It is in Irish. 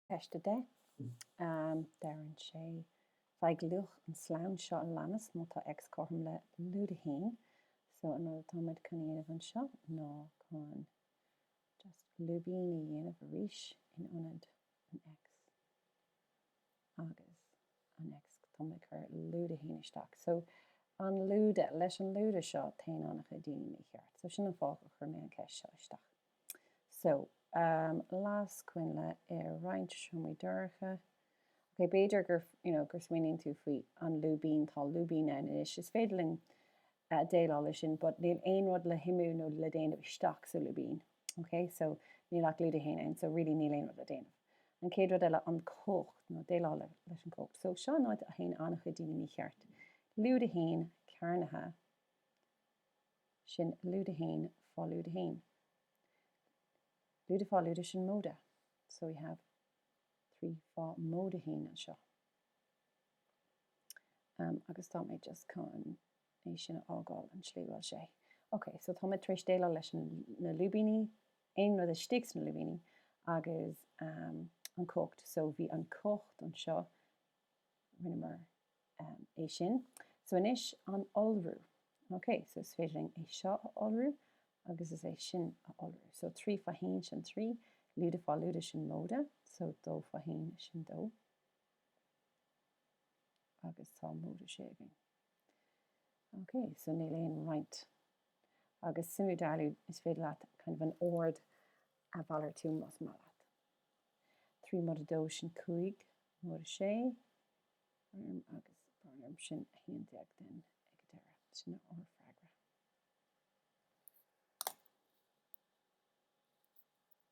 Ceist 10, Deireann sé, Faigh luach an slonn seo a leanas má tá X cothrom le lúide 1. So, an rud atáimid chun a dhéanamh anseo ná chun just lúibíní a dhéanamh arís in ionad an X agus an X táimid ag cur lúide 1 isteach. So, an lúide, leis an lúide seo téann an-chuid daoine mícheart. So, sin an fáth a chuir mé an ceist seo isteach. So, um las coinnle i roinnt seomraí dorcha. Ok, b'fhéidir gur, you know, gur smaoiníonn tú faoi An Lúibín, tá lúibín ann anois, is féidir linn uh, déileáil le sin, but níl aon rud le shuimiú nó le déanamh isteach sa lúibín. Ok, so níl ach lúide a haon ann, so really níl aon rud le déanamh. An chéad rud eile, an cumhacht, nó déileáil le, leis an cumhacht. So seo an áit a théann an-chuid daoine mícheart. Lúide a haon, cearnaithe, sin lúide a haon fá lúide a haon lúide fá lúide sin móide so we have trí fá móide a haon anseo um, agus tá mé just chun é sin a fhágáil an tslí bhfuil sé ok so tá mé tar éis déileáil leis na lúibíní aon rud istigh sna lúibíní agus um, an cumhacht so bhí an cumhacht anseo rinneamar é sin. So anois, an iolrú. Ok, so is féidir linn é seo a iolrú agus is é sin a iolrú. So trí fá haon sin trí, lúide fá lúide sin móide, so dó fá haon sin dó. Agus tá móide sé againn. Ok, so níl aon roinnt. Agus suimiú dealú is féidir leat kind of an ord a mhalartú más maith leat. Trí móide dó sin cúig, móide sé, Um agus brón orm sin 11 then ag an deireadh. Sin é ár freagra.